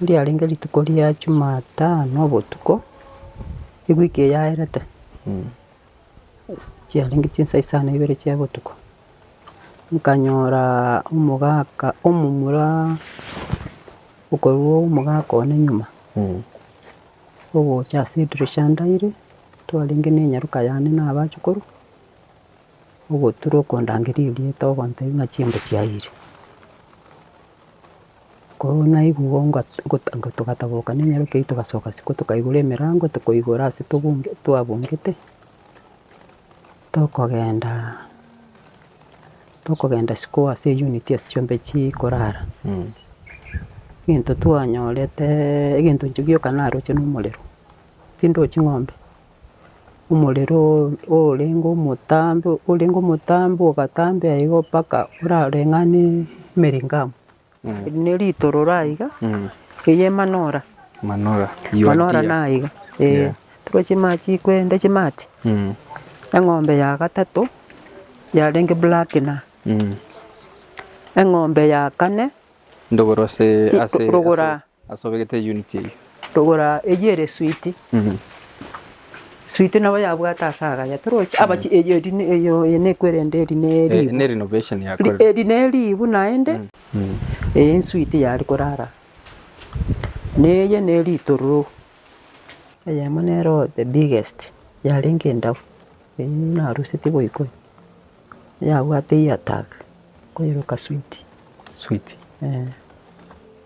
Riarenge rituko ria Jumatano obotuko, ewiki eyaerete, ase chiarenge chinsa isa na ibere chia botuko, nkanyora omogaka omomura okorwa omogaka one nyuma, ogocha ase edirisha ndaire, twarenge na enyaroka yane na abachukuru, ogotura okondangeria erieta ogontebia ng'a chimbe chiayire. Korwa naigwa igo nga gota nga togataboka nenyaroke eyi togasoka isiko tokaigora emerango tokoigora ase tobonge twabongete, tokogenda tokogenda isiko ase eyunit ase chiombe chikorara. Egento twanyoreteeee egento inche gioka naroche na omorero, tindochi ng'ombe, omorerooo orenge omotambe orenge omotambe ogatambea igo mpaka orareng'ane emerengamu. Eri neritororo aiga eye emanora. Manora. Manora naiga ee tore chimachi kwende chimati eng'ombe ya gatato yarenge black na eng'ombe ya kane. Ndogoro ase ase. Rogora Ase obegete eye unit eyio. Togora eyio ere sweet. Sweet nabo yabwate ase agaya toroche abachie eyio eri eyio eye nekwerende eri ne ribu. Ne renovation yakorire. Eri ne ribu naende eye sweet yari korara neye ne ritororo. Eyemo nero the biggest yarenge endau eyio narusetie goika oyo yabwate ear tag koiroka sweet. Sweet.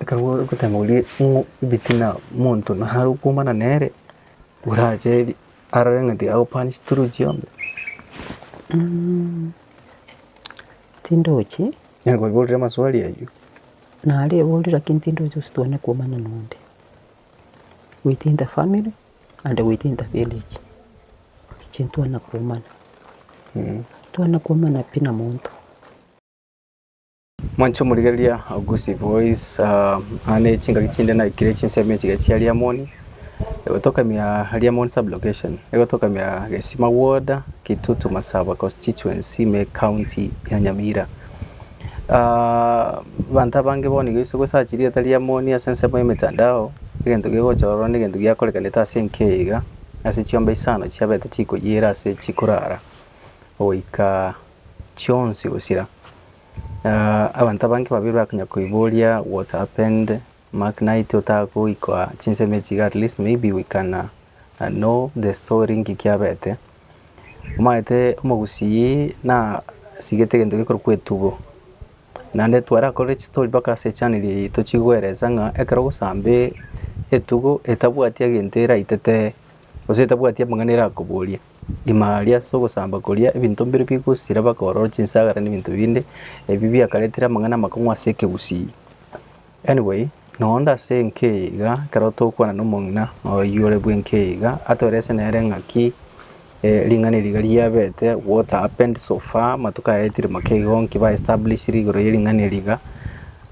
Ekero gotema oria ng'o ebitina monto naro okomana nere, orache arore ng'a tiga agopanish through chiombe. Tindochi. Nere koiborire amaswali aywo. Nare ebori lakini tindochi gose twane komana nonde. Within the family and within the village, inche ntwana komana. Twana komana pi na monto. Mwanche omorigereria Augusi boys uh, aa ne chingaki chinde naikire chinsemo echiga chia Liamoni egotokamia Liamoni sub location egotokamia Gesima ward Kitutu Masaba constituency me county ya Nyamira Ah, banto abange bono iga ase gosachi rieta Liamoni ase ensemo y'emetandao egento gegochororwa negento giakorekanete ase enka eye iga ase chiombe isano chiabete chikoyiera ase chikorara goika chionsi gosira abanto abange babere bakonya koiboria what happened mark night otagoika chinsemo echi iga at least maybe we can know the story nki kiabete. Omanyete omogusii na sigete egento gekorokwa etugo, naende twarakorire chistory mpaka ase echaneri eye tochikoeresa ng'a ekero ogosambe etugo etabwati egento eraitete gose etabwati amang'ana erakoborie Ime aria ase ogosamba koria ebinto mbire bigosira bakoorora chinsagera na ebinto binde, ebi biakaretire amang'ana amakong'u ase ekegusii. Anyway, na onde ase enka eye iga, ekero togokwana na omong'ina oyio ore bw'enka eye iga, atoreese nere ng'aki eh, ring'ana eri iga riabete, what happened so far, amatuko aya etire make igo, nki ba establishire igoro ye ring'ana eri iga,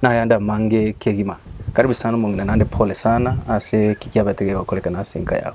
na ayande amange kegima. Karibu sana omong'ina naende pole sana ase eki kiabete kegokorekana ase enka yao.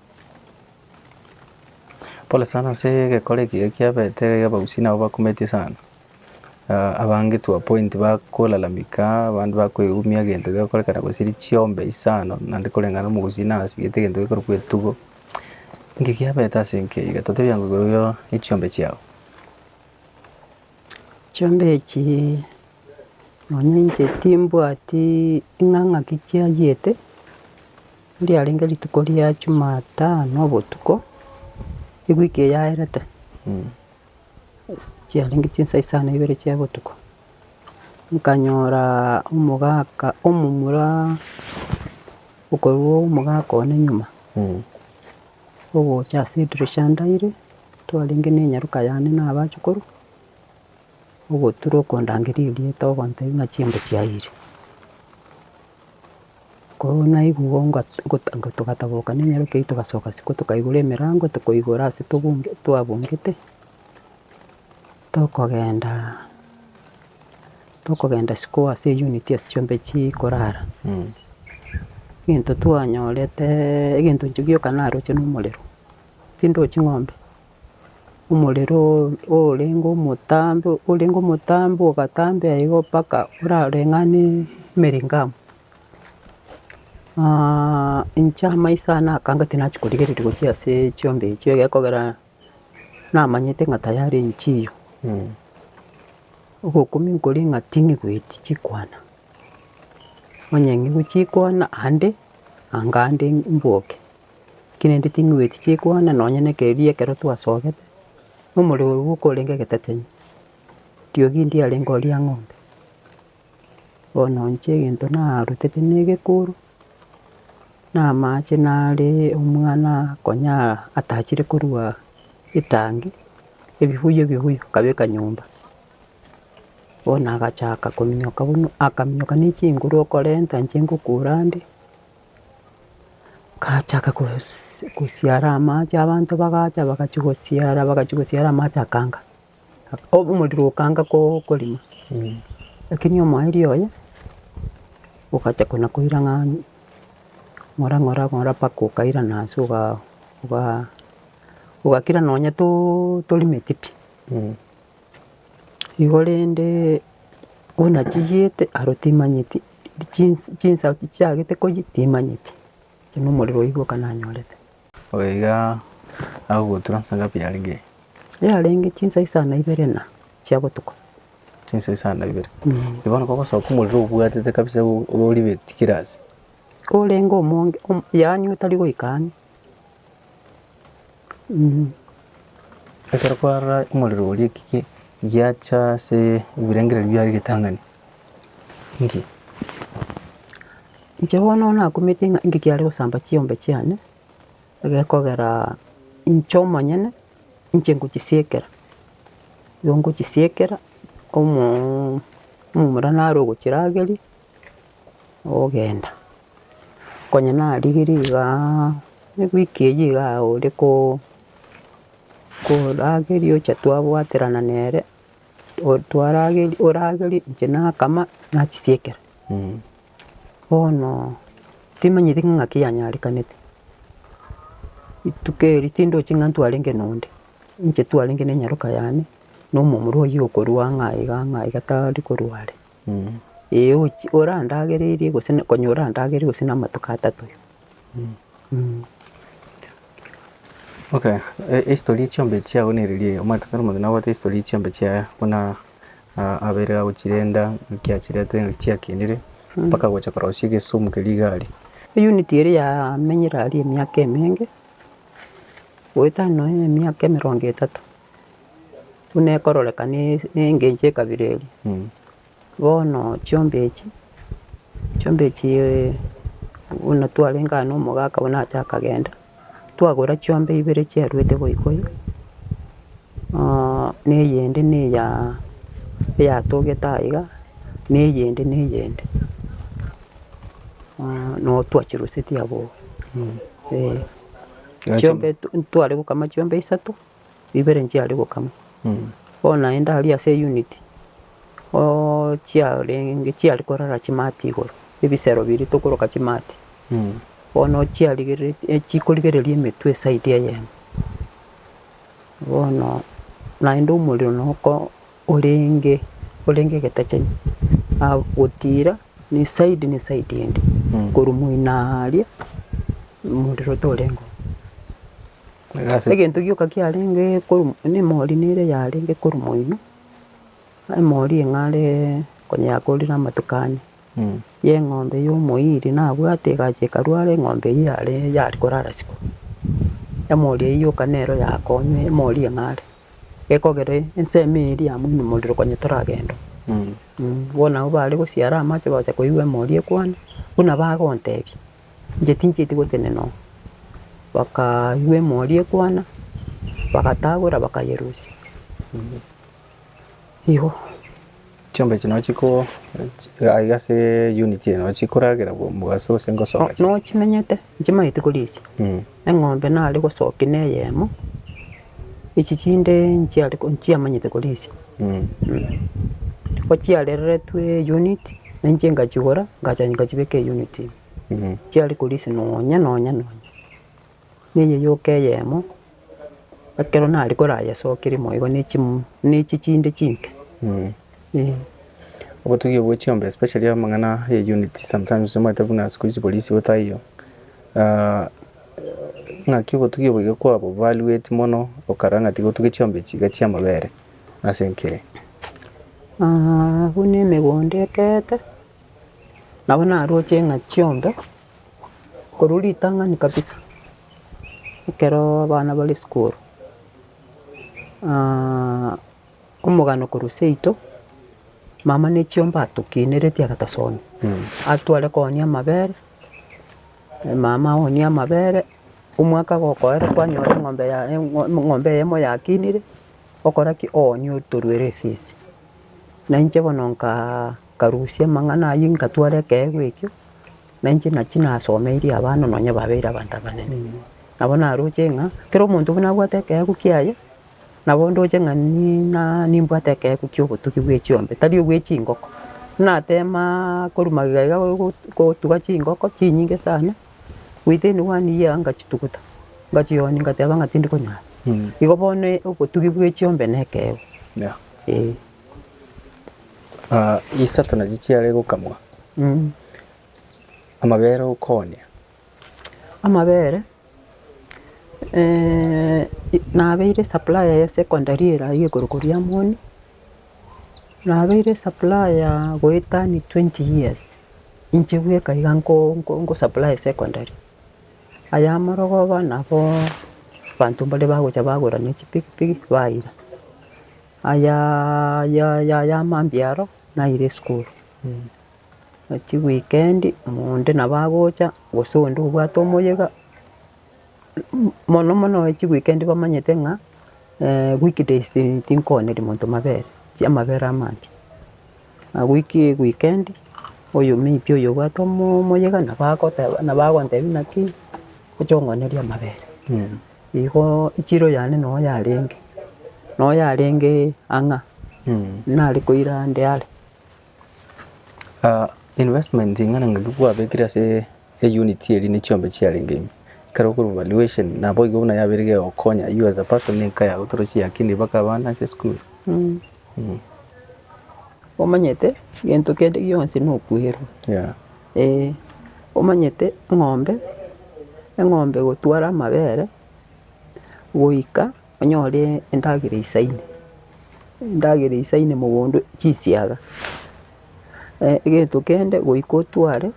Pole sana ase egekore ekiya ekiabete abagusii nabo bakumetie sana, abange to a point bakolalamika, abande bakoegumia egento gegokorekana gose richiombe isano naende koreng'ana omogusii nasigete egento gekorokwa etugo, inki kiabete ase enka eyio iga totebi angwe igoro yo echiombe chiao. Chiombe echii nonya inche timbwati ing'a ng'aki chiayiete. Riarenge rituko ria Jumatano obotuko, ewiki eyaerete, ase chiarenge chinsa isaa na ibere chia botuko, nkanyora omogaka omomura okorwa omogaka one nyuma, ogocha ase edirisha ndaire, twarenge na enyaroka yane na abachukuru, ogotura okondangeria erieta ogontebia ng'a chimbe chiayiire. Korwa naigwa igo nga gota nga togataboka nenyaroke eyi togasoka isiko tokaigora emerango tokoigora ase tobunge twabungete, tokogenda tokogenda isiko ase eyunit ase chiombe chikorara. Egento twanyoreteeee egento inche gioka naroche na omorero, tindochi ng'ombe. omorero orenge omotambe, orenge omotambe ogatambea igo mpaka orareng'ane emering'amu. inche amaiso aya nakanga tinachia korigereria gochia ase chiombe echio egekogera namanyete ng'a tayari nchiyo. Ogokumia nkore ng'a tinigweti chikwana, onye ng'igwe chikwana ande, anga ande mboke. Naki naende ting'weeti chikwana nonya na ekereria ekero twasogete, na omorero oria bwoka orenge getatemi. Ntiogi ndie arenge oria ng'ombe. Bono inche egento narutete na egekuru, na amache nare omwana konya atachire korua etangi, ebibuyu ebibuyu akabeka nyomba. Bono agachaka kominyoka buna, akaminyoka ne chinguru okorenta inche ngokura ande. Gachaka kosi kosiara amache abanto bagacha bagachia gosiara bagachia gosiara amache akanga, obo omorero okanga koo korima. Lakini omoerio oye, ogacha kona koira ng'a ng'ora ng'ora ng'ora mpaka okairana ase oga ogaa ogakira nonya too torimeti pi. Igo rende buna chiyete aro timanyeti chinsa chinsa chiagete koyia timanyeti, inche na omorero oyio bwoka nanyorete. Oyo iga agogotura nsa ngapi yarenge? Yarenge chinsa isano na ibere na chia botuko. Chinsa isano na ibere, eki bono kogosoka omorero obwatete kabisa o- oribeti kera ase. Korenge omonge, omo yaani otari goika ang'e. Ekero kwarora omorero oria ekige giacha ase ebirengererio biaye egetang'ani, inki? Inche bono nakumete ng'a inki kiare gosamba chiombe chiane, egekogera inche omonyene, inche ngochisieekera, nigo ngochisieekera, omoo omomura naro ogochirageria. ogenda, konya narigirie igaa ewiki eyio iga ore koo korageria ocha twabwaterana nere, o- twarageri oragerie inche nakama nachisiekera. Bono timanyeti ng'a naki yanyarekanete, rituko eri tindochi ng'a ntwarenge nonde, inche twarenge nenyaroka yane, na omomura oyio okorua ng'a iga ng'a iga tari korwa are. Ee, ochi- orandagererie gose na konya orandagerie gose namatuko atato. Okay, e- ehistory ya chiombe echi chiago nere riaaa, omanyete kare omonto nabwate ehistory ya chiombe chiaye buna aa abeire agochirenda, ng'aki achiretire, ng'aki chiakinire, mpaka gocha korosia egesumu keria igare. Unit eria yamenyire aria emiaka emenge, goetania nonya emiaka emerongo etato, buna ekororeka na engencho ekabira eria. Bono chiombe echi, chiombe echi buna twarenge aa na omogaka buna ache akagenda, twagora chiombe ibere chiaruete goika oyo, na eyende na eya eyatogete aye iga, na eyende na eyende. Nabo twachiruseti abwo, eh. Chiombe ntware gokama chiombe isato. ibere nchiare gokama, bono naende aria ase eyunit oo chiarenge chiare korara chimati igoro, ebisero biria tokoroka chimati, bono chiarigereti chikorigereria emetwe eside eyemo. Bono naende omorero noko orenge orenge egetachani, na gotira na eside na eside ende, korwa moino aaria omorero toreng'o. Egento gioka kiarenge korwa moino, na emori nere yarenge korwa moino, emori eng'are konya yakorire amatuko ane, ya eng'ombe ya omoiri nabwate egacha ekarwara eng'ombe eyio yare yari korara isiko. Emori eyio yoka nero yakonya emori eng'are, gekogera ensemo eyio eri yamoimomorirwe konya toragenda oo. Bono abwo bare gosiara amache bagocha koigwa emori ekwana, buna bagotebia. Inche tinchieti gotenena oo. Bakaywa emori ekwana, bagatagora bakayerusia, eeh, igo. Chiombe echi no chiko aiga ase unit eye no chikoragera bwa mogaso gose ngosoa gachia. Nochimenyete, inche manyete korisia. Eng'ombe nare gosokia neyemo, echi chinde nchiare ko nchiamanyete korisia. Ko chiareretwe unit, na inche nkachigora, nkacha nkachibeka unit ime. Chiare korisia nonya nonya nonya, na eye yoka eyemo, ekero nare korayesokeria moyo igo ne chim ne echi chinde chinke, eh. Obotugi obwo chiombe especially amang'ana ya unit sometimes omanyete buna siku hizi korisia otaiyo, Naki obotugi oboiga kwabo barueti mono okara ng'a tigotuge chiombe chiiga chi'amabere ase enkeene. Buna emegondo ekeete, nabo naroche ng'a chiombe, korwa ritang'ani kabisa, ekero abana bare sukuru, omogano korwa seito, mama ne chiombe atokineretie agatosonia, atware koonia amabere, Mama agonie amabere, omwaka gokoera kwanyora eng'ombe ya eng'o eng'ombe eyemo yakinire, okora ki? Owonie otoruere efisi. Na inche bono nkaa nkarusia amang'ana ayio nkatwara ekeegwa ekio, na inche nachi nasomeirie abana nonya babeire abanto abanene. Nabo naroche ng'a, kera omonto buna abwate ekeegwa kiaye, Nabo ndoche ng'a ni- na nimbwate ekeegwa kia obotugi bwe chiombe, tari obwe chingoko. Nateema korwa magega iga gogo gotuga chingoko chinyinge sana, within one year ngachituguta, ngachionia ngateba ng'a tindi konyara. Igo bono obotugi bwe chiombe na ekeegwa, Yeah. eeh. Isato nachi chiare gokamwa, amabere okoonia. Amabere nabeire supplier ya secondary ere aye igoro koria amo one, nabeire supplier goeta ni twenty years, inche bweka iga nko supply secondary. Aye amarogoba nabo abanto mbaria bagocha bagora ne chipikipiki baira. Aya ya ya ya mambia aro naira esukuru. Chiweekendi omonto nabo agocha gose onde obwate omoyega, mono mono chiweekendi bamanyete ng'a week days tinkoonyeria monto mabere, chiamabere amambia. Agwo ki weekend oyo maybe oyo obwate omoo omoyega nabo agoteba nabo agontebia naki oche ong'onerie amabere. Igoo echiro yane no yarenge, no yarenge ang'a, nare koira ande are. Investment ing'ana ngaki kwabekire ase eyunit eri ne chiombe chiarenge ime, ekero okorwa valuation nabo igo buna yabeire kegokonya you as a person na enka yago torosi yakina mpaka abana ase esukuru. Omanyete gento kende gionsi na okwerwa, omanyete eng'ombe, eng'ombe egotwara amabere goika. Onyore endagera eisaine, endagera eisaine mogondo chisiaga, egento kende goika otware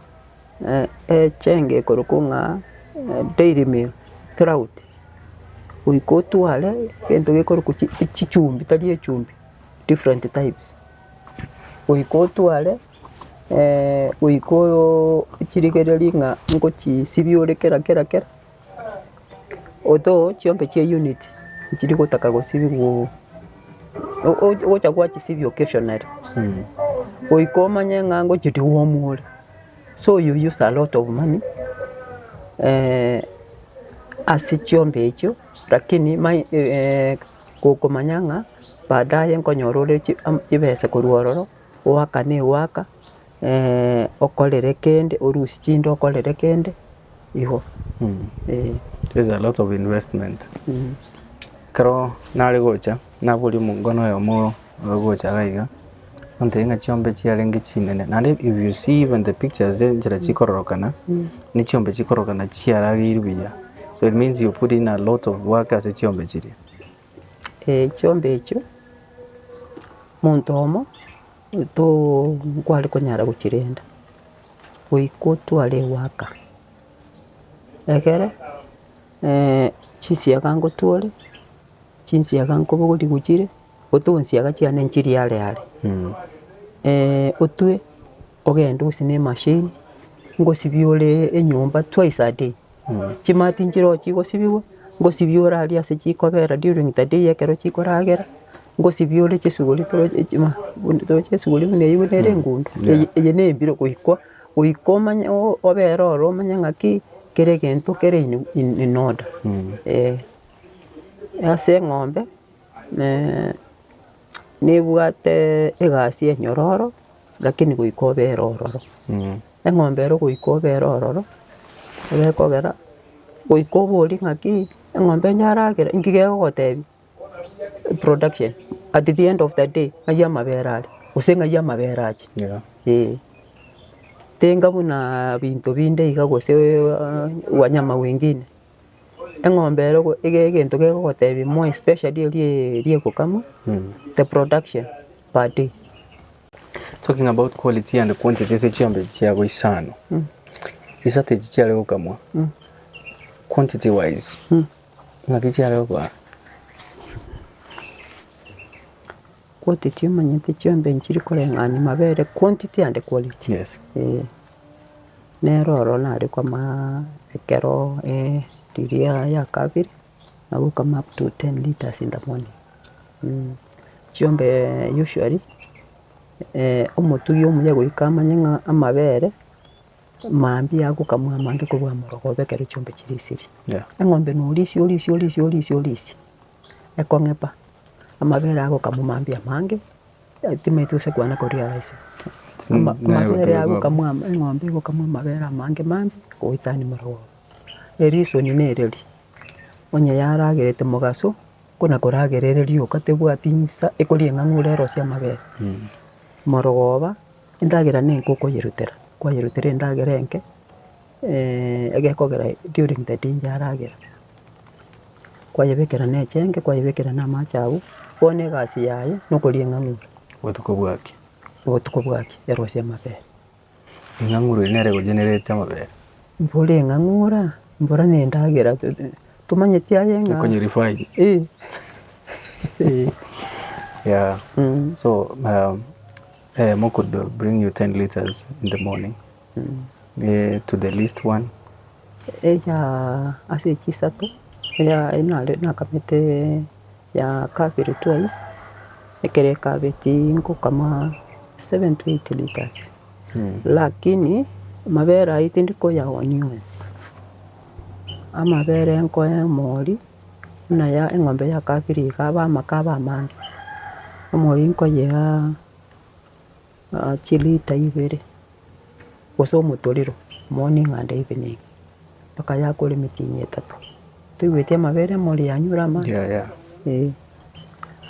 echenge ekorokwo ng'a dairy meal, trout, goika otware egento gekorokwa chi chichumbi tari echumbi, different types, goika otware goika oyoo chirigereria ng'a nkochisibi ore kera kera kera. Otoe chiombe chia unit chiri gotaka gosibigwa ogocha gwachisibia occasionally goika omanye ng'a ngochia deworm ore so you use a lot of money ase chiombe echio lakini mai gokomanya ng'a baadaye nkonyora ore chibesa korwa ororo. Goaka negoaka okorere kende orusie chinde okorere kende igo eh. There's a lot of investment ekero nare gocha naboria omongwana oyomo ore gocha iga iga ontebia ng'a chiombe chiarenge chinene naende if you see even the pictures enchera chikororokana ne chiombe chikororokana chiarageirwe buya so it means you put in a lot of work ase chiombe chiria. chiombe echio, monto oyomo too nkware konyara gochirenda, goika otware egoaka. Egere chisiaga ngotwore, chisiaga nkobogorie gochire, otoe chisiaga chiane nchirie are are. otwe ogende gose ne emashini, ngosibie ore enyomba twice a day. Chimanu tinchirogo chigosibigwa, ngosibiore aria ase chikobera during the day ekero chikoragera, ngosibiore chisuguri toro chima buna toro chisuguri buna eyio buna ere engundo, eye eye na embiro goikwa, goika omanye oo obere oro omanye ng'aki kera egento kere in in in order eh. Ase eng'ombe, nebwate egasi enyororo. Lakini goika obere ororo, eng'ombe ero goika obere ororo, egekogera goika obori ng'aki eng'ombe yaragera inki gegogotebi? Production, at the end of the day ng'ai amabere are gose ng'ai amabere ache? Ee. Tenga buna binto binde iga gose wanyama wengine. Eng'ombe ero go iga egento kegogotebia more especially erio ya ri'egokamwa, the production per day. Talking about quality and quantity ase chiombe echi chiabo isano, isato echi chiare gokamwa, quantity wise ng'aki chiare gokoa? Kwoti tiomanyete chiombe nchiri koreng'ana amabere kwonti tiande kwareti Yes. eh. Nero oro nare komaa ekero eh riria ya kabere, nabo okama up to ten litres in the morning mm. Chiombe usually omotugi omuya goika amanye ng'a amabere mambia agokamwa amange korwa amorogobe ekero chiombe chire esiri. Yeah. Eng'ombe norisia orisia orisia orisia orisia. ekong'epa, amabere aa gokamomambia amange, eh timanyeti gose kwana koria arase. Ama- mabere aa gokamwama eng'ombe egokamwa amabere amange mange goetania morogo oo. Erisoni na ereri, onye yaragerete mogaso, kona koragera ere rioka tebwati nsa ekoria eng'ang'a ore erosie amabere. Morogoba, endagera nenka okoyerutera, kwayerutera endagera enke. egekogera during the day yaragera, kwayebekera nechenge, kwayebekera na amache agwo, bono egasi yaye na okorieng'ang'ura. Obotuko bwaki. Obotuko bwaki erosie amabere. Eng'ang'ura eye nere egochenerete amabere. Mbore eng'ang'ura, mbora na endagera tomanyeti aye ng'a. Ekonye refine. Eeh. Eeh. Yeah, so. Eh, mokodo bring you 10 liters in the morning eh, to the least one eya ase echi isato eya nare nakamete ya kabere twice ekero ekabeti nkokama 7 to 8 litres lakini amabere ayio tindi koyaonia onsi amabere nkoe mori. buna ya eng'ombe ya kabere iga abe amaka abe amange, omori nkoyeaa chilita ibere, gose omotorero, moni ng'anda ibe ne iga, mpaka yakore emetienyi etato, toigweti amabere emori yanyure amache, eh.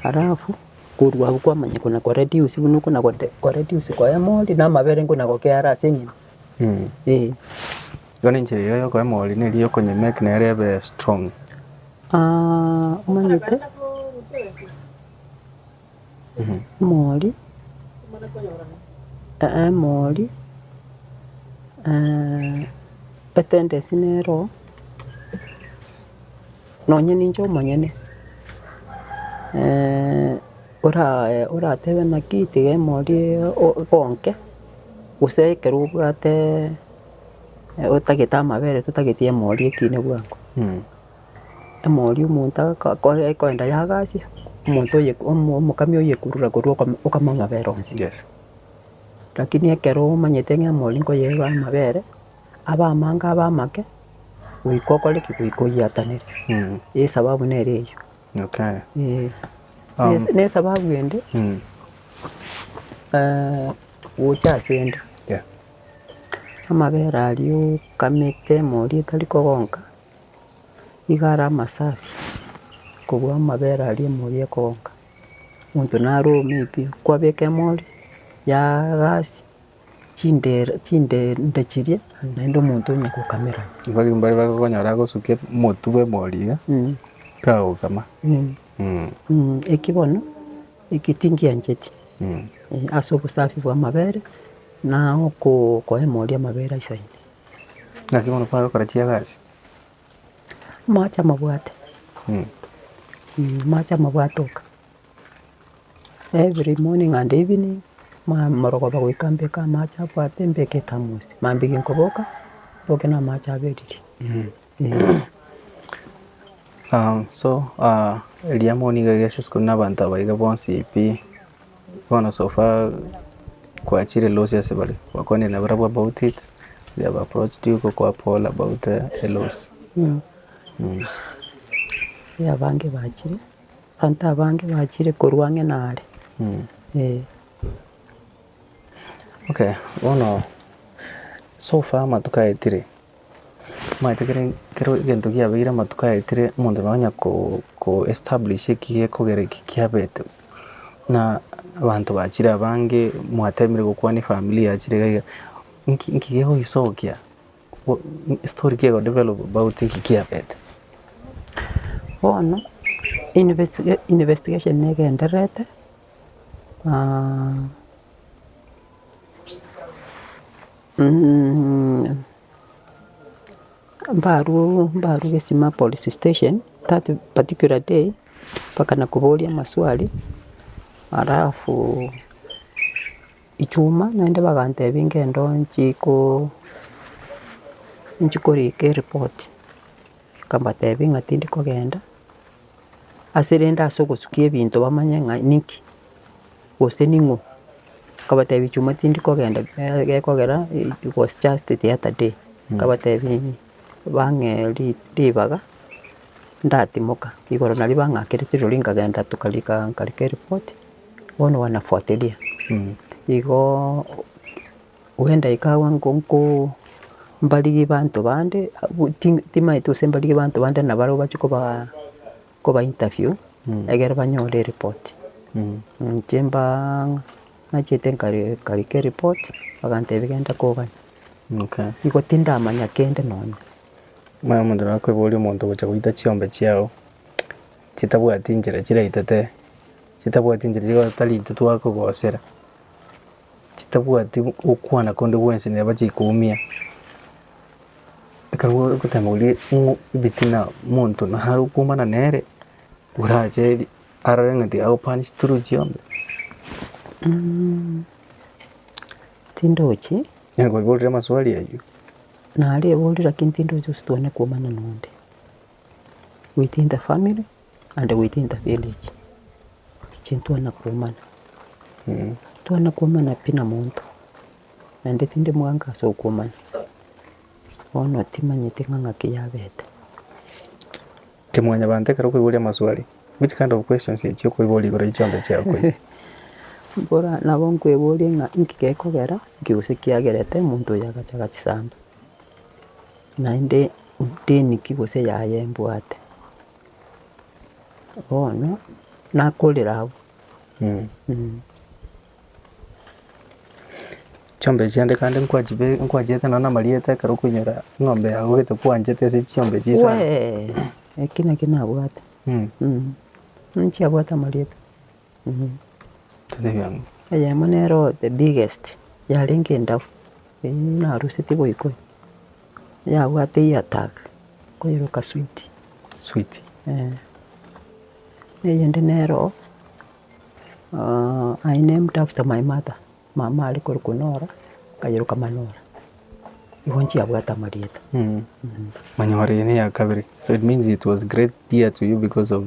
Alafu korwa agwo kwamanya kona ko reduce buna okona gode ko reduce koyia emori na amabere nkona gokeyare ase enyene, eh. Igo nenchera eyo yokoba emori neri yokonywa emerk nere ebe strong. Aah omanyete emori emori etendency nero nonya ninche omonyene ora- oratebe naki tiga emori igo nke gose ekero obwate. Otagete amabere totageti emori ekiine bwango. Emori omonto akoye ekoenda yagasia, omonto oye omo omokami oyekurura korwa okamo okama amabere onsi. Rakini ekero omanyete ng'a emori nkoyeba amabere, abe amange abe amake, goika okore ki? Goika oyiatanere. Esababu nere eyio. Eeh. Nes- nesababu ende gocha asende. Amabere aria okamete morie tari kogonka, nigo are amasafi kobua amabere aria morie ekogonka. Monto naro omei pi, kwabeka emori yaa gasi, chindere chindende chiria naende omonto onye kokamera. Igo ekero mbare bakonyora agosukia omotu bwa emori iga, kagokama. Eki bono, eki tingiancheti, ase obosafi bwa amabere, Na okoemoria amabera ase ime. Naki bono kware gokora chiagasi. Amache amabwate, amache amabwate oka. Every morning and evening, ma- morogoba goika mbeke amache abwate mbeke thermos. Mambia ginkoboka, mboke na amache aberirie. so eriamoni nigo egesa isiko na abanto aba iga bonsi pi, bono so far kwachire loss ase bare, gwakwanire na barabwo about it, they have approached you gokoboa pole about a loss. Abange bachire, abanto abange bachire korwa ang'e nare, eh. Okay, bono so far amatuko aetire. Omanyete kere kero egento giabeire amatuko aetire omonto nonye na ko ko establish eki gekogera eki kiabete bo, na abanto bachire abange mwatemire gokwana efamiri yachire iga iga, nki nki gegoisokia bo story ki ego develop about nki kiabete. Bono investi investigation niga enderete Mbarwoo mbarwa gesima police station that particular day, mpaka na koboria amaswali, alafu echuma naende bagantebia ngende nchi koo nchi korika erepoti, nkabatebia ng'a tindi kogenda. ase rende ase ogosukia ebinto bamanye ng'a ninki, gose ning'o, nkabatebia chuma tindi kogenda eh gekogera it was just the other day, nkabatebia bang'ee ri ribaga ndatimoka, igoro nario bang'akera chirori nkagenda tokarika nkarika ereport, bono wanafuatilia, igoo. Bw'endaika agwo nko mbarigie banto bande, abwo ti timaeti gose mbarigie banto bande na barabwo bache kobaa koba interview egere banyore ereport. Inche mbaa ng'a nachete nkari nkarika ereport, bagantebia genda kogania. Igo tindamanya kende nonya. Muna omonto naro okoboria omonto ogocha goita chiombe chiago, chitabwati nchera chiraitete, chitabwati nchera chigoeta ritutu akogosera. chitabwati gokwana konde gwensi neba chikoumia. Ekero ogotema oria ng'o ebitina monto naro okoumana nere, orache arore ng'a tiga agopanish through chiombe. Tindochi. Nere koiborire amaswali aywo. Nare oborire lakini tindochi gose twane koumana nonde. within the family and within the village, inche ntwana komanya, ntwana komanya pi na monto, naende tindi moango ase okomanya, bono timanyeti ng'a ng'aki yabete. Inche mwanyabanto ekero okoiboria amaswali, which kind of questions echio okoiboria igoro ya chiombe chiago echio? Mbora nabo nkweborie ng'a inki gekogera, inki gose kiagerete omonto oyo agacha agachisamba. Naende teniki gose yaye mbwate, bono nakorire abwo. Chiombe echi aande kande nkwachibe- nkwachiete nonya na amarieta ekero okoinyora eng'ombe yago gete kwanchete ase chiombe echi sana. Wee, eki naki nabwate, ninchiabwate amarieta. Eyemo nero the biggest yarenge endau, eyio naruseti goika oo, yabwate ear tag koiroka sweet. Sweet. Eeh. Eyende nero, I named after my mother, mama are korwa Konora, akairoka Manora. Igo nchiabwate amarieta. Manyoore eye neya kabere, so it means it was great dear to you because of.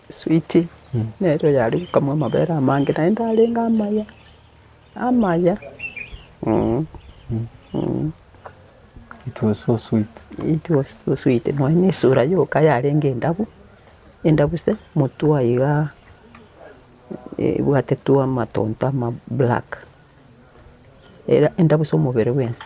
Switi, nere oyare gokamwa amabere amange, naende arenge amaya, amaya, eeh, eeh. It was so sweet. It was so sweet, nonya na esura yoka yarenge endabu, endabu se, motwe aye igaa ebwate twa amatonto ama black, era endabu se omobere bwensi.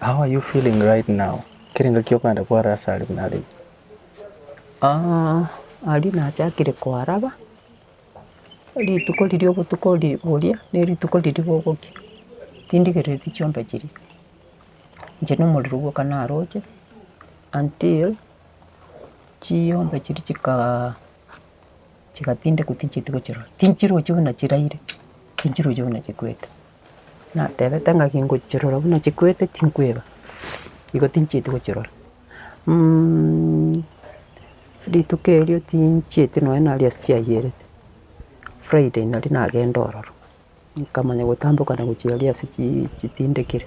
How are you feeling right now? Kere ngaki okogenda kwara ase aria buna are inche? Aria nachakire koaraba, rituko riria obotuko boria, ne rituko riria bogokia, tindigereti chiombe chiria. Inche na omorero bwoka naroche until chiombe chiria chika chigatindekwa tinchieti gochirora. Tinchiroche buna chiraire, tinchiroche buna chikwete. Natebete ngaki ngochirora buna chikwete tinkweba, igo tinchieti gochirora, rituko erio tinchieti nonye nari ase chiayerete, friday nari nagenda ororo, nkamanya gotambokana gochia aria ase chii chitindekire.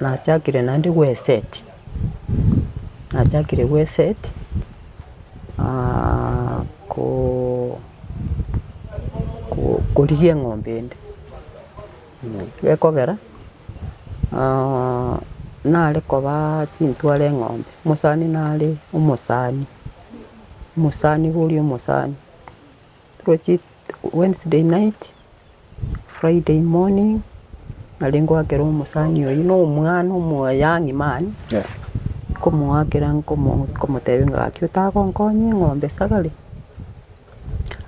nachakire naende gweseti, nachakire gweseti ko- korigia eng'ombe ende, gekogera nare kobaa chintware eng'ombe, omosani nare omosani, omosani boria omosani. Toroche Wednesday night, Friday morning, nare ngoakera omosani oyio na omwana omo young man, nkomoakera nkomo nkomotebia ng'a gaki otagonkonya eng'ombe esagare,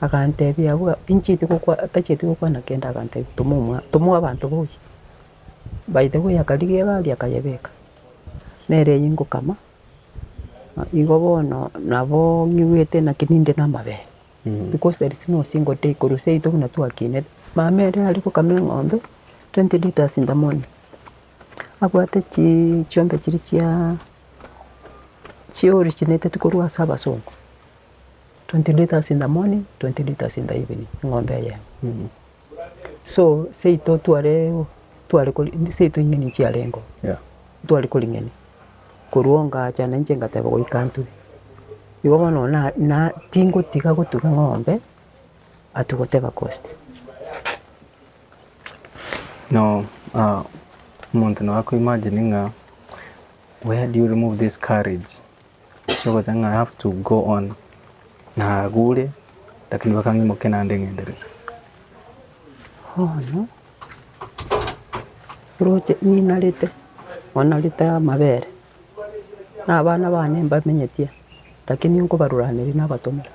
agantebia abwo inchieti gokwa tachieti gokwana kende agantebia toma omwa toma abanto boyie. By the way akarigia egari akayebeka, nere eyio ngokama, igo bono nabo ng'iwete naki ninde na amabere. Because there is no single day korwa seito buna twakinire. Mama ere are gokama eng'ombe twenty litres in the morning, abwate chi chiombe chiria chia chi originateti korwa ase abasongo, twenty litres in the morning, twenty litres in the evening, eng'ombe eyemo. So seito twareeoo tware kori indi seito ing'eni chiarengo Yeah. tware koring'eni, korwa ongacha na inche ngateba goika ntwe. Igo bono na na tingotiga gotuga ng'ombe ati goteba cost. Now ah omonto nabo akoimagine ng'a where do you remove this courage? Ekiogotenga ng'a I have to go on nagure lakini bakang'imokia naende ng'enderere. Bono roche ninarete onarete amabere na abana bane mbamenyetie lakini nkobaruraneri nabatomera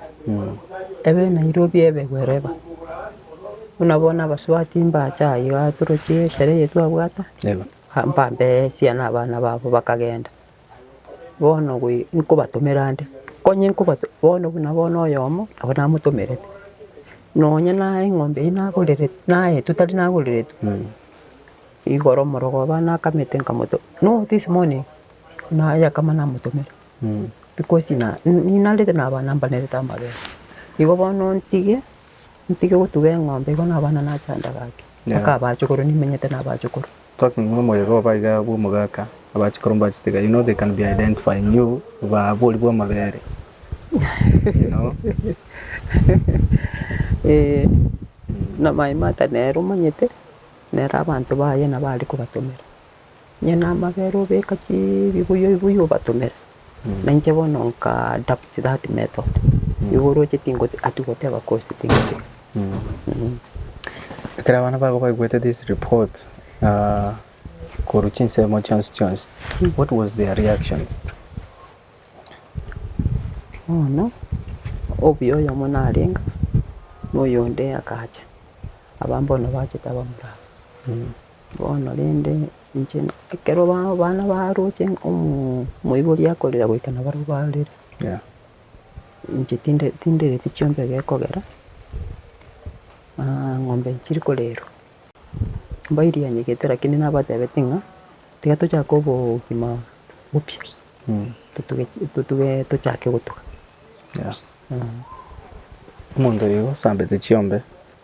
ebe Nairobi ebe wherever buna bono abasubati mbacha aiga toroche esherehe eye twabwate Yebo. mpambee esia na abana babo bakagenda. bono gwe nkobatomera nde, konye nkobato bono buna bono oyomo nabo namotomerete, nonye na eng'ombe eywo nagorere naetwe tari nagoreretwe igoro omorogo oba nakamete nkamoto no this morning nayakama namotomera because na ninarete na abana mbanerete amabere. Igo bono ntige ntige gotuga eng'ombe igo na abana nachanda gaki mpaka abachukuru nimenyete na abachukuru. Talking no moyo obo iga bwo omogaka aba chikoro mbachitega you know they can be identifying you ba abori bwa amabere you know. Na my mother nere omanyete nere abanto baye nabo aria kobatomera onye na amabere obeka chii ebibuyu ebibuyu obatomera. Na inche bono nkadabuti that method, nigo oroche tingoti ati goteba kosi tingoteba. Ekero abana bago baigwete this report ah, korwa chinsemo chionsi chionsi, what was their reactions? Bono, obuya oyomo narenga, na oyonde akacha, abwo bono bachete abamura aba. Bono rende. Inche ekero abana baroche omoibori akorera goika nabare barorire, inche tinde tindereti chiombe gekogera, ng'ombe chiri korerwa, mbairigeretie lakini nabatebeti ng'a tiga tochake obogima bopya, totuge totuge tochake gotuga. Omonto oyo osambete chiombe.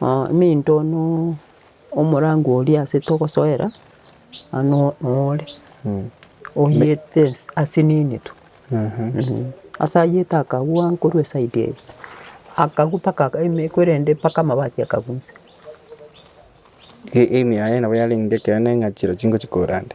Ominto no omorangwa oria ase togosoera ano nore, oyete ase nenitu, ase ayete akagwa korwa eside eye, akagwa mpaka emeko erende mpaka amabati akagwa inse. Emiya yaye nabo yarenge ekero neng'achire chingochia korande.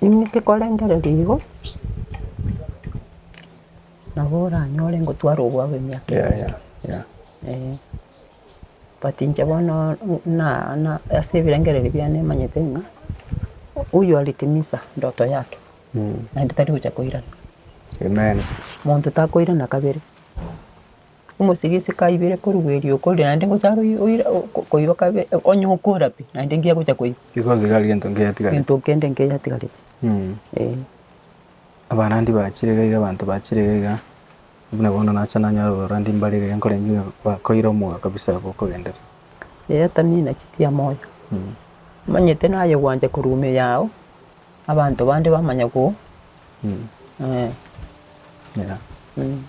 Inche korengereria igo, nabo oranyore ngotware obwabu emiaka ebere, eh. But inche bono na- na ase ebirengererio biane manyete ng'a huyu alitimiza ndoto yake, naende tari gocha koirana. Monto takoirana kabere. Omosike ase kaibire korugwa erio okorire naende ngocha are oira koiba kabe onye okora pi naende ngiya gocha koiba. Igosiga gento nkeyatigareti. Gento kende nkeyatigareti. Eeh. Abarandi bachire iga iga abanto bachire iga iga, buna bono nacha nanyora abarandi mbare iga iga nkorengereria ng'a bakoira omwoyo kabisa abwo okogenderera. Eyatamina chitia moyo. Omanyete naye gwancha korwa ime yao. Abanto bande bamanya ko eh. Yeah. Mm.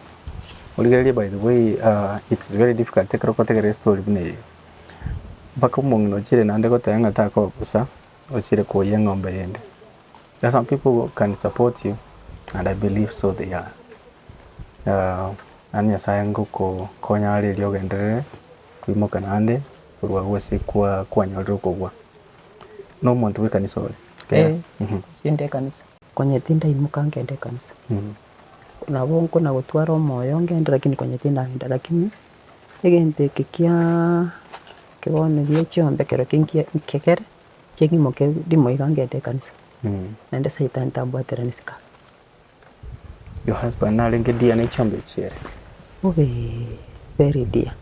Origererie by the way uh, it's very difficult ekero okotegera estory buna eye mpaka omong'ina ochire naende goteba ng'a takoba bosa ochire koyia eng'ombe yende there are some people who can support you and I believe so they are uh, naende nyasaye ngokokonya arerie ogenderere koimoka naende korwa gose kwa kwanyorire okogwa. Nomonto bw'ekanisa ore? Kera. Ee, ngende ekanisa. Konya tindaimoka ngende ekanisa. Nabo nkona gotwara omoyo ngende lakini konya tindagenda lakini egento eke kia eke bono eria chiombe ekero kinkie nkegere ching'imoke ndimo iga ngende ekanisa. Naende saitani tambwaterani sikaara. Your husband narenge dear ne chomba echi ere. Bobe very dear.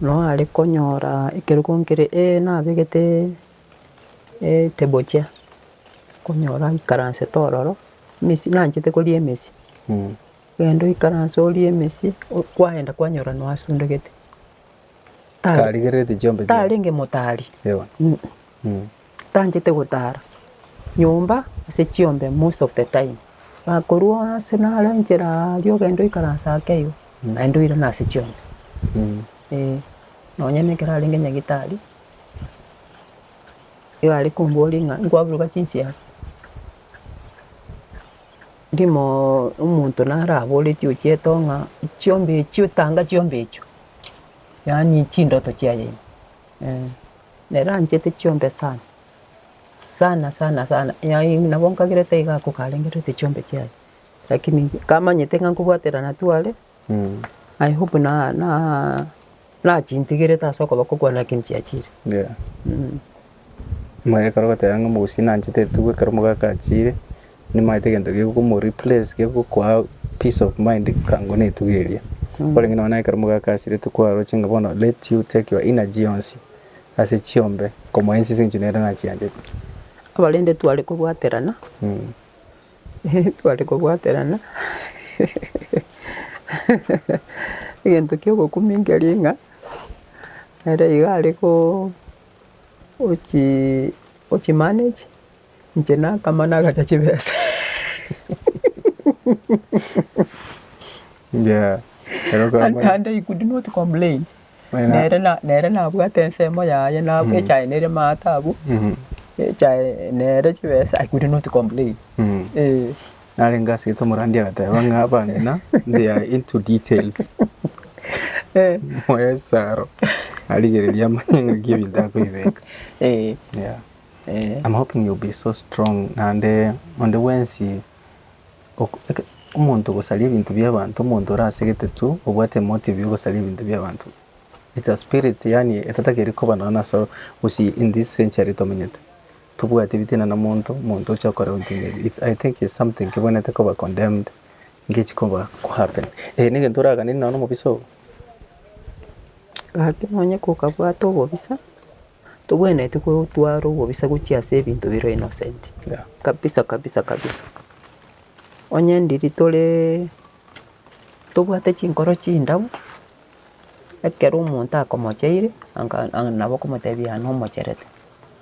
Noo are konyora ekerogo nkere ee nabegete e table chair, konyora aikaransete ororo, mesi nanchete koria emesi. Genda oikaranse orie emesi, kwagenda kwanyora noasundegete. Tarigererete chiombe chiaye. Tarenge motari. Ewa. tanchete gotara nyomba ase chiombe most of the time. Nakorwa ase naro enchera aria ogenda oikaranse ake igo, naende oirana ase chiombe. Eeh, nonye na ekero arenge nyagetari, iga are komboria ng'a nkwaburuka chinsiaga, rimoooo omonto naro abore ekio ochiete oo ng'a chiombe echio tanga chiombe echio, yaani chindoto chiaye eeh. Neranchete chiombe sana, sana sana sana, yaani nabo nkagerete iga ako karengerete chiombe chiaye, lakini nkamanyete ng'a nkobwaterana tware, I hope na- na- nachintigerete ase okoba kogwana lakini chiachire. Mh. Omogaka oragoteba ng'a omogusi nanchete etugo ekero omogaka achire. nimaete egento gegomo replace gegokoa peace of mind kang'u netuga eria korenge nonye na ekero mogakasirete kwaroche ng'a bono let you take your energy yonsi ase chiombe nkomoensi ase eng'encho nere nachianchete. Abarende tware kobwaterana tware kobwaterana egento kia obokumia nkeria ng'a nere iga are ko ochi ochi manage. Inche nakama nagacha chibesa. Yeah, ero And, kaba- and I could not complain. Wena- Nere na- nere nabwate ensemo yaye nab- echae nere maate abwo Mhm, echae nere chibesa I could not complain. mhm. Eh, narenge ase eto omorandi agateba ng'a abamina they are into details eh, moyo esaro arigereria amanye ng'aki ebinto akoibeka eh. yeah. I'm hoping you'll be so strong naende onde bwensi omonto ogosaria ebinto bia abanto omonto ore ase egetetu obwate emotive ya ogosaria ebinto bia abanto it's a spirit yaani etatageri koba nonya ase gose in this century tomenyete tobwati ebitina na omonto, omonto oche okore ebinto buna ebi it's I think it's something kebwenerete koba condemned ngechi koba ko happen eh negento oraganeri nonya na omobisa oo. Gaki nonya kokabwate obobisa Togwenereti gotwara obobisa gochia ase ebinto bire innocent. Yeah. Kabisa kabisa kabisa. Onye ndiri tore tobwate chinkoro chindabu, ekero omonto akomocheire anga anga nabo okomotebia an omocherete.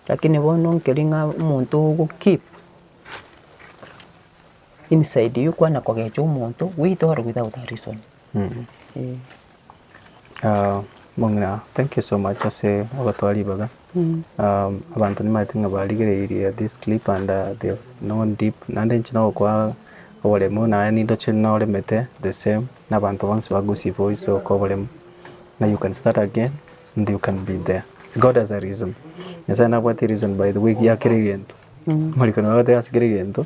Lakini bono nkeri ng'a omonto ogo keep Inside you kwana kogecha omonto goita ore without a reason. Eeh. Ah, mong'ina, thank you so much ase ogotoa ribaga. Um, abanto nimaete ng'a barigereirie this clip and uh, they have known deep. Naende inche nogokoa oboremu naye nindoche noremete the same na abanto bonsi bagusibwa oise okoa oboremu. Na you can start again and you can be there. God has a reason. Nyasae nabwati reason by the way giakera egento. Morikani bagoteba ase kera egento.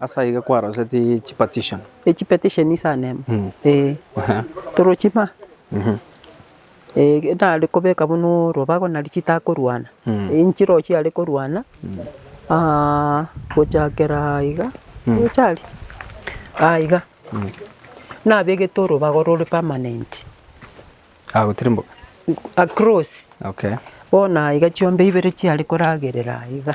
Ase aiga kwaroseti chipetition. Echipetition ase anemo ee torochie ma nare kobeka buna orobago nari chitakorwana enchiro chiare korwana gochakera iga gocha aria aa iga nabegete orobago rore permanent Agotirimboka. across bono aiga chiombe ibere chiare koragerera aiga.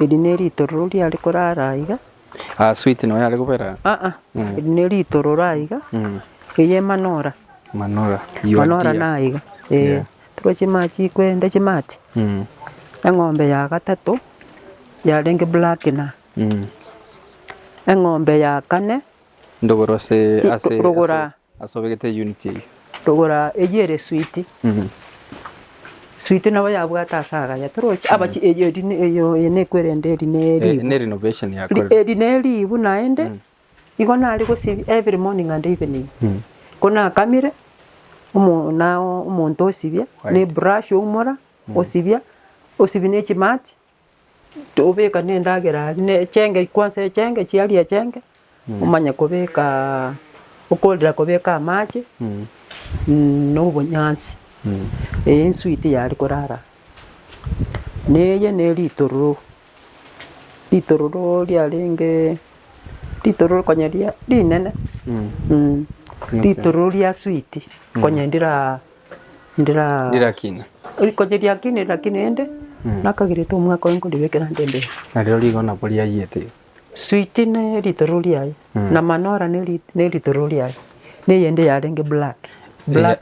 Eri neritororo riare korara aiga. Ah sweet nonya are kobera. Ah ah eri neritororo aiga eye manora. Manora your dear. Manora naiga eh toroche chimara chikwenda chimati eng'ombe ya gatato yarenge black na eng'ombe ya kane. Ndogoro ase ase. Rogora Ase obegete eye unit eyio. Togora eyio ere sweet. Sweet nabo yabwate ase agaya torochi abaki eyio eri eyio eye nekwerende eri ne Eh, eribu. ne renovation Ri- yakorire. Eri ne eribu naende igo nare gosibia every morning and evening. Ko nakamire omo nao omonto osibia ne brush oumora osibia osibi ne chimati Tobeka nendagera aria ne echenge kwansa echenge chiaria echenge, omanye kobekaa okorera kobeka amache na obonyansi eye ensuite yaria korara. Na eye ne ritororo, ritororo riarenge ritororo konya ria rinene ritororo ria switi konya ndiraa. ndirakine, koriakine rirakine rende nakagerete omwaka oye nkoribekera nde mbere. Nario rigona bo riayete. Switi ne ritororo riaye na manora ne ritororo riaye na eyende yarenge black.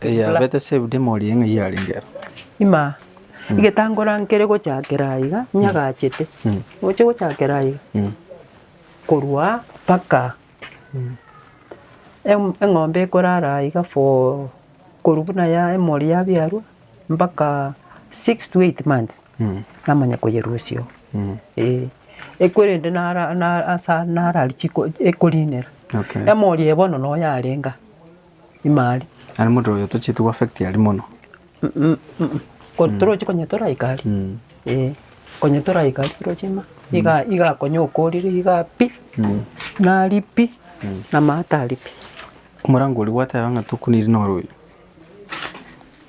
Eyabete saved emori ng'a yarenge aro. Imaa. Egetangora nkere gochakera aiga nyagachete. Ngochie gochakera aiga korwa mpaka. Em- eng'ombe ekorara iga for korwa buna ya emori yabiarwa mpaka six to eight months namanya koyerusia oo eh. Ekorende nara na asa nara richiko ekorinera, Okay. emori eye bono noyo arenga. imari. Yaani omonto oyo tochieti go affect aria mono. Mh-mh-mh, torochi konya toraika aria, eh, konya toraika aria torochi ng'a iga iga konya okorire igaa pi, naria pi, namato aria pi. Omorango oria gwateba ng'a tokuniri noro oyio,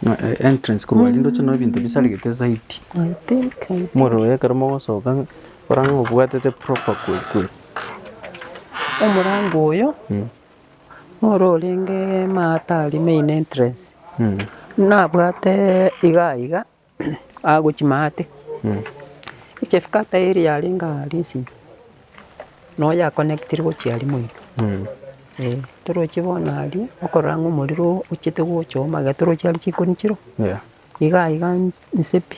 ng'a entrance korwa aria ndoche noo ebinto bisaregete zaidi. I think, I think. Omorero oye ekero mogosoka ng'a ora ng'a obwatete proper kwe kwe. Omorango oyo, Ore orenge Maatari main entrance, nabwate igaa iga agochia maate, echief cutter eria yarenge aa risinyo, noyo ya connectire gochia aria moino. Eeh, torochie bono aria, okorora ng'a omorero ochete gochoma iga torochie aria chikoni chirwe. Iga iga inse pi.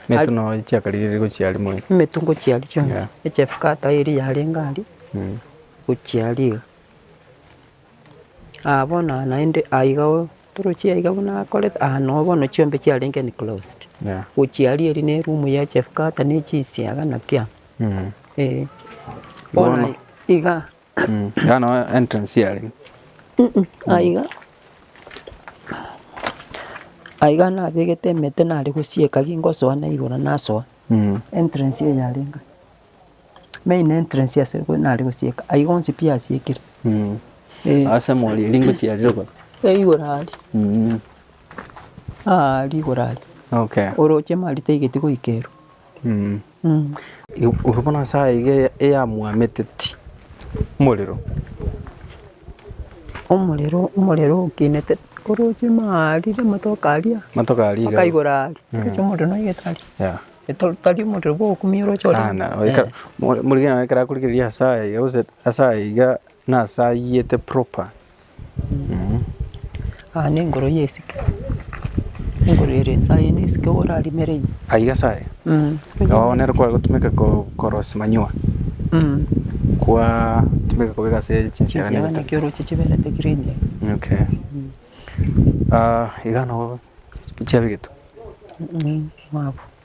Emetu no chiakarigereire gochiaria mono. Emetu ngochiaria chionsi. Yeah. Echefkata eri yarenge aria, Mm. gochiaria iga. Aa bono aa naende aa iga oo, torochie aiga buna akorete, aa noo bono chiombe chiarenge enclosed. Yeah. Gochiaria eri na eroom ya chefkata na echisiaga na kila amo. Mm. Eeh. Bono Bono. iga. Hano entrance yari. Aiga aiga nabegete emete nare gosieka gingosoa na igoro nasoa entrance eye yare enga main entrance ase nigo nare gosieka ayiga onsi pi asiekire eh. Ase morie ringochi yari rogoro. Eh igoro aria ah rigoro aria Okay. oroche marita igeti goika ero. Igo bono ase aiga eyamwameteti omorero. Omorero omorero okinete oroche maa rire amatoke aria. Amatoke aria iga. Akaigora aria. Oroche omorero noigete aria. Yeah. Eto tari omorero bwa okumia oroche oria. Sana. Oika morikere nabo ekero akorigereria ase aya iga gose ase aya iga nase ayete proper. Aa nengoro ya esike, engoro ere inse aye ne esike iga orarimere ime. Aiga ase aya, nabo nere kware gotumeka ko- korosia manure, kwaa tumeka kobeka ase chinsiaga Chinsiaga nabita. naki oroche chiberete green iga. Okay. iga nabo chiabegetwe. Mwabu.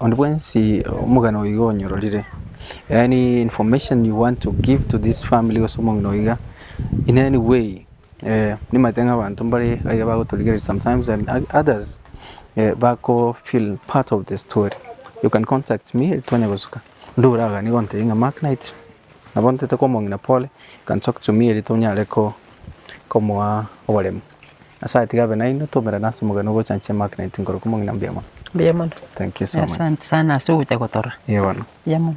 Onde bwensi omogani oyo iga onyororire, any information you want to give to this family gose omong'ina oyo iga in any way, nimanyete ng'a abanto mbare aiga bagotorigereria sometimes and others bako feel part of the story, you can contact me twanya gosuka onde oraganie gontebia ng'a mark knight nabo ntete kwa omong'ina pole, you can talk to me eri tonyare komoa oboremu. Nyasae atiga abe nainwe twaumerane ase omogeni ogochanchia emagnet nkorokia omong'ina mbuya mono. Mbuya mono. Thank you so much. Asante sana ase ogocha gotorora. Eeh bono. Mbuya mono.